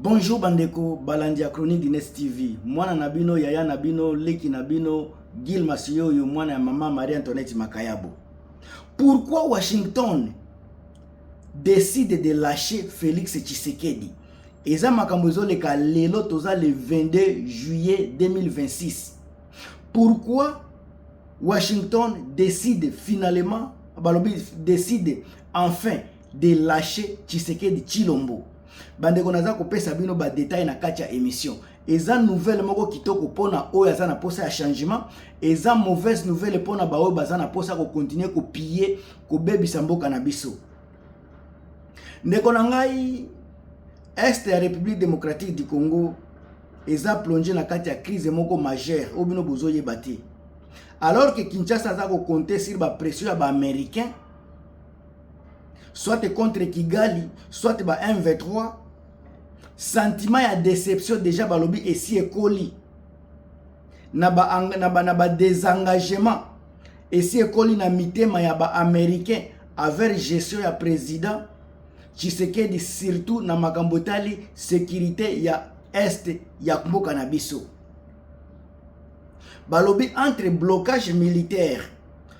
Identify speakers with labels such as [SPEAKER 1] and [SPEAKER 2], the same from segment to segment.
[SPEAKER 1] Bonjour bandeko balandi ya Chronique du Nes TV. Mwana na bino, yaya na bino, leki na bino, Gil Masioyo, mwana ya mama Marie Antoinette Makayabo. Pourquoi Washington décide de lâcher Félix Tshisekedi? Eza makambo ezoleka lelo toza le 22 juillet 2026. Pourquoi Washington décide finalement, balobi décide enfin de lâcher Tshisekedi Chilombo. Bandeko naza kopesa bino ba détails na kati ya émission. Eza nouvelle moko kitoko pona oyo aza na posa ya changement, eza mauvaise nouvelle pona ba oyo baza na posa ko continuer ko piller, ko bebisa mboka na biso. Ndeko na ngai Est ya République démocratique du Congo eza plonge na kati ya crise moko majeure oyo bino bozoyeba te alors que Kinshasa aza kokonte sur bapression ya baaméricain soit contre Kigali, soit ba M23, sentiment ya déception déjà balobi esi ekoli na ba na ba, na ba désengagement esi ekoli na mitema ya ba américain avec gestion ya président Tshisekedi surtout na makambo etali sécurité ya est ya mboka na biso balobi entre blocage militaire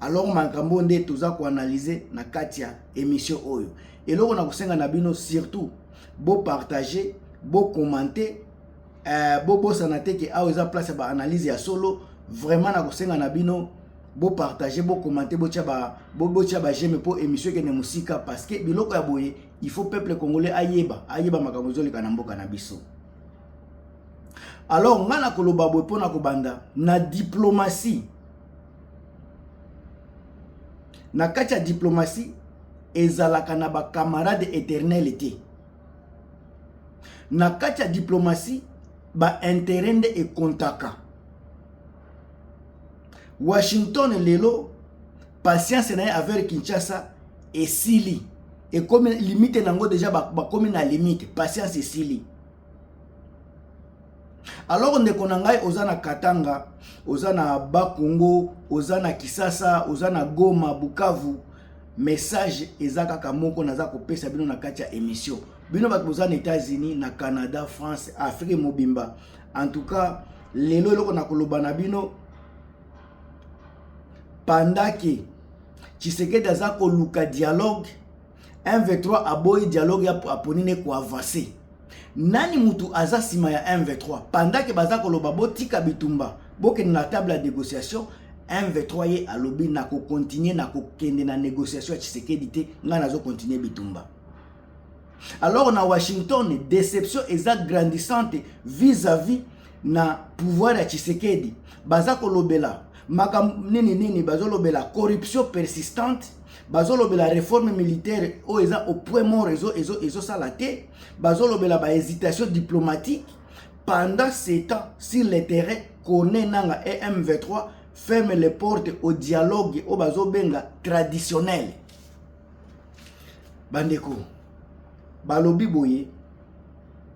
[SPEAKER 1] alors makambo nde toza koanalyse na kati ya émission oyo eloko na kosenga na bino surtout bopartage bocommente eh, bobosana te ke awa eza place ya baanalyse ya solo vraiment na kosenga na bino bopartage bocommente botya ba, bo, bo bageme mpo émission ekende mosika parce que biloko ya boye il faut peuple congolais ayeba ayeba makambo ezoleka na mboka na biso alors ngai nakoloba boye mpo na kobanda na diplomatie na kati ya diplomatie ezalaka na bacamarade éternel te na kati ya diplomatie bainteret nde ekontaka washington lelo patience na ye aver kinshasa esili ekomi limite na yango deja bakomi na limite patience esili alors ndeko na ngai oza na katanga oza na bakongo oza na kisasa oza na goma bukavu message eza kaka moko naza kopesa bino na kati ya émission bino bato boza na états-unis na canada france afrique mobimba en tout cas lelo eloko na koloba na bino pandake tshisekedi aza koluka dialogue M23 aboyi dialogue ya aponi ne ko avancer. Nani mutu aza nsima ya M23 pendake baza koloba botika bitumba bokende na table ya négociation M23 ye alobi na kokontinue na kokende na négociation ya Tshisekedi te ngai nazo kontinue bitumba alors na Washington déception eza grandissante vis-à-vis na pouvoir ya Tshisekedi baza kolobela makambo nini nini bazolobela corruption persistante bazolobela réforme militaire oyo eza au point mort ezosala ezo, ezo te bazolobela bahésitation diplomatique pendant ce temps sur le terrain kone nanga em23 ferme les portes au dialogue oyo bazobenga traditionnel bandeko balobi boye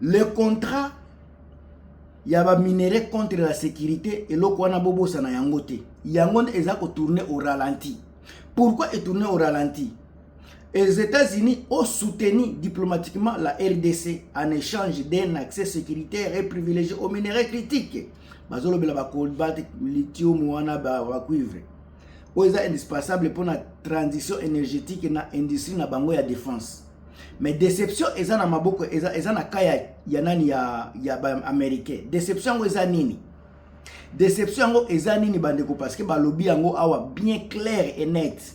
[SPEAKER 1] le contrat ya ba minerais contre la sécurité eloko wana bobosana yango te yango nde eza kotourne au ralenti pourquoi etourne au ralenti les États-Unis ont soutenu diplomatiquement la RDC en échange d'un accès sécuritaire et privilégié aux minerais critiques. bazolobela bacolbat lithium wana bacuivre oyo eza indispensable mpona transition énergétique na industrie na bango ya défense mais deception eza na maboko eza, eza na ka ya, ya nani ya, ya baaméricain deception yango eza nini deception yango eza nini bandeko parce que balobi yango awa bien clair et net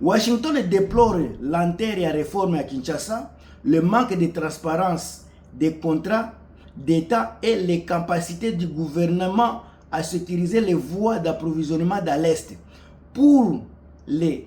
[SPEAKER 1] washington deplore lenteur ya réforme ya kinshasa le manque de transparence des contrats d'état et les capacités du gouvernement à sécuriser les voies d'approvisionnement de l'est pour les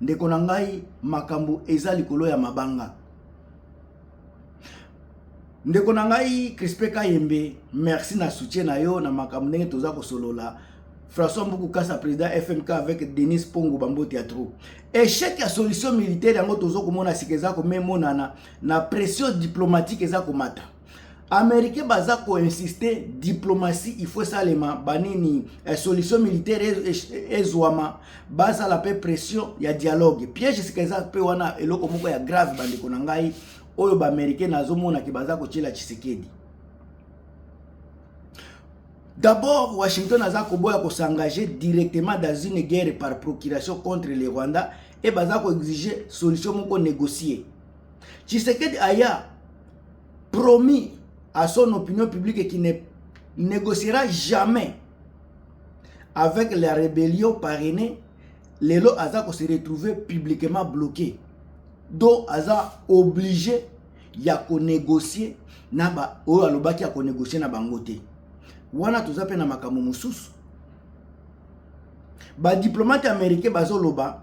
[SPEAKER 1] ndeko na ngai makambo eza likolo ya mabanga ndeko na ngai crispe kayembe merci na soutien na yo na makambo ndenge toza kosolola françois mbuku kasa président fmk avec denis pongo bambote ya trop échec ya solution militaire yango toza komona sika eza komemonana na pression diplomatique eza komata américain baza koinsiste diplomatie il faut esalema banini eh, solution militaire ezwama basala mpe pression ya dialogue piège sika eza mpe wana eloko moko ya grave bandeko na ngai oyo baaméricain nazomonaki baza kotyela tshisekedi D'abord, Washington aza koboya ko s'engager directement dans une guerre par procuration contre le Rwanda et baza ko exiger solution moko négocier. Tshisekedi aya promis à son opinion publique qui ne négociera jamais avec la rébellion parrainée lelo aza ko se retrouver publiquement bloqué donc aza obligé ya ko négocier na ba oyo alobaki ya ko négocier na bango te wana toza pe na makambo mosusu ba diplomate américain bazoloba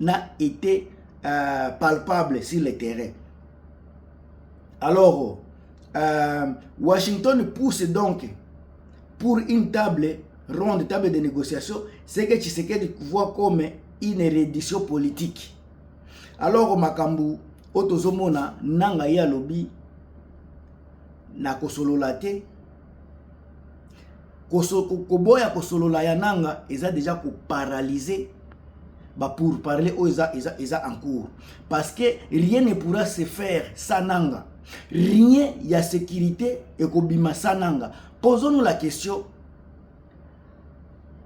[SPEAKER 1] n'a été euh, palpable sur le terrain. Alors, euh, Washington pousse donc pour une table ronde, table de négociation, c'est que Tshisekedi voit comme une reddition politique. Alors, Makambu, Otozomona, Nanga ya lobby, na kosolola te koboya kosolola ya nanga eza deja koparalyse bapour parle oyo eza, eza, eza en cours parce que rien ne pourra se faire sa nanga rien ya sécurité ekobima sa nanga posons-nous la question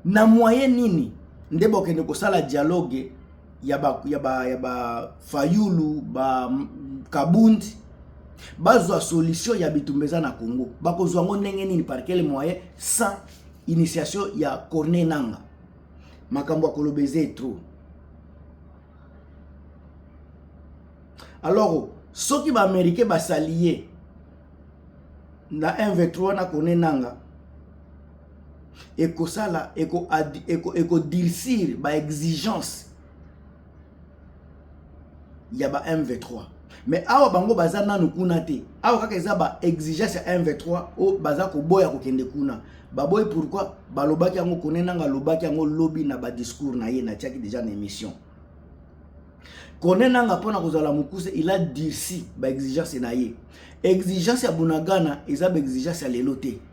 [SPEAKER 1] na moyen nini nde bokende kosala dialogue ya ba ya ba ya ba Fayulu ba Kabund bazwa solution ya bitumba eza na Congo bakozwa ngo ndenge nini par quel moyen sans initiation ya Corneille Nanga makambo ya koloba eza trop alors soki ba américain basali ye na 1 v3 wana Corneille Nanga ekosala ekodilsir eko, eko ba exigence ya ba mv3 mais awa bango baza nanu kuna te awa kaka eza ba exigence ya mv3 oyo baza koboya kokende kuna baboyi pourquoi balobaki yango kone nanga alobaki yango lobi na badiscours na ye natiaki deja na émission kone nanga mpo na kozala mokuse il a durci baexigence na ye exigence ya bunagana eza baexigence ya lelo te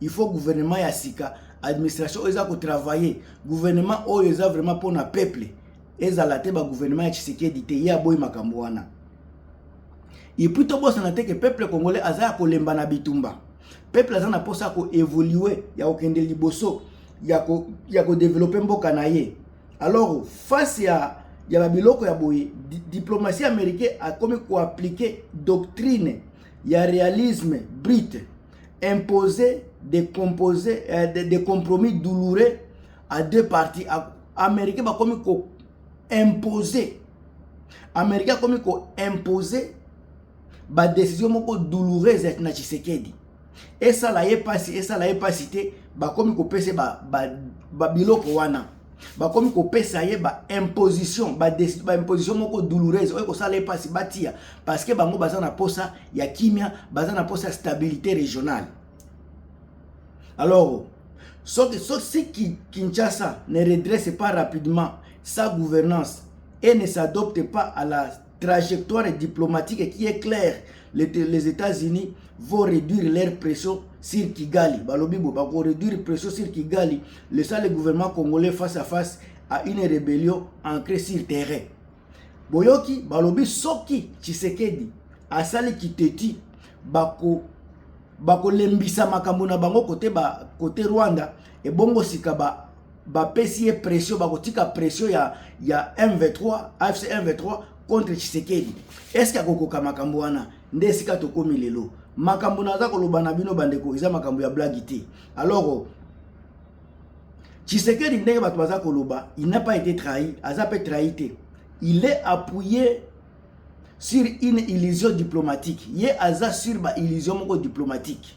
[SPEAKER 1] il faut gouvernement ya sika administration oyo eza kotravaille gouvernement oyo eza vraiment mpo na peuple ezala te bagouvernement ya tshisekedi te ye aboyi makambo wana epuis tobosana te ke peuple congolais aza ya kolemba na bitumba peuple aza na mposa ya koevolue ya kokende liboso ya kodevelope ko mboka na ye alors face ya ya babiloko ya boye diplomatie américain akomi koaplike doctrine ya realisme brute imposer des, composés, euh, des, des compromis douloureux à deux parties américain bakomi ko imposer américain akomi ko imposer badécision moko douloureuse na tshisekedi esala ye mpasi esala ye mpasi te bakomi kopesa babiloko ba, ba wana bakomi kopesa ye baimposition baimposition moko douloureuse oyo ekosala ye mpasi batia parce que bango baza na mposa ya kimia baza na mposa ya stabilité régionale alors soki si kinshasa ne redresse pas rapidement sa gouvernance et ne s'adopte pas à la trajectoire diplomatique qui est claire les, les États-Unis vont réduire leur pression sur Kigali. Balobi bo bako réduire pression sur Kigali, laissant le gouvernement congolais face à face à une rébellion ancrée sur terrain. Boyoki balobi soki Tshisekedi asali kiteti bako bakolembisa makambo na bango kote ba kote Rwanda ebongo sika ba bapesi ye pression bakotika pression ya, ya m23 afc m23 contre tshisekedi eske akokoka makambo wana nde esika tokomi lelo makambo naza koloba na bino bandeko eza makambo ya blagi te alors tshisekedi ndenge bato baza koloba il n'a pas été trahi aza mpe trahi te il est appuyé sur une illusion diplomatique ye aza sur ba illusion moko diplomatique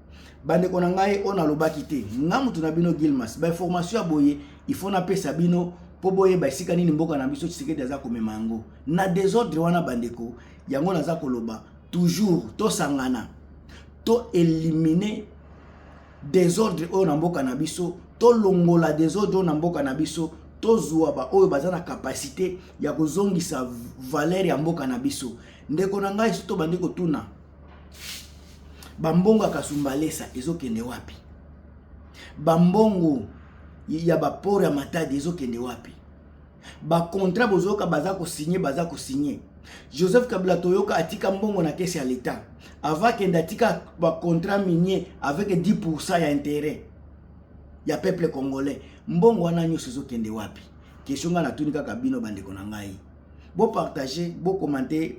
[SPEAKER 1] bandeko na ngai oyo nalobaki te nga moto na bino gilmas bainformation ya boye ifo napesa bino mpo boyeba esika nini mboka na biso tshisekedi aza komema yango na desordre wana bandeko yango naza koloba toujours tosangana to elimine desordre oyo na mboka na biso tolongola desordre oyo na mboka na biso tozwa baoyo baza na kapasite ya kozongisa valere ya mboka na biso ndeko na ngai soki tobandi kotuna bambongo ya kasumbalesa ezokende wapi bambongo ya baporo ya matadi ezokende wapi bakontrat bozoyoka baza kosigne baza kosigne joseph kabila toyoka atika mbongo na kesi ya leta ava akende atika bacontrat minier avec 10 pourcent ya intérêt ya peuple congolais mbongo wana nyonso ezokende wapi kestion ngai natuni kaka bino bandeko na ngai bopartage bokomante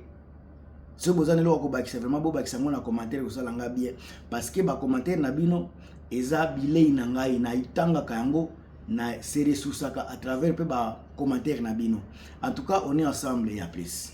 [SPEAKER 1] soki boza na eloko kobakisa vraiment bobakisa yango na commentaire kosala nga bien parce que bacommentaire na bino eza bilei na ngai naitangaka yango na se ressourcaka à travers mpe bacommentaire na bino en tout cas on est ensemble ya plus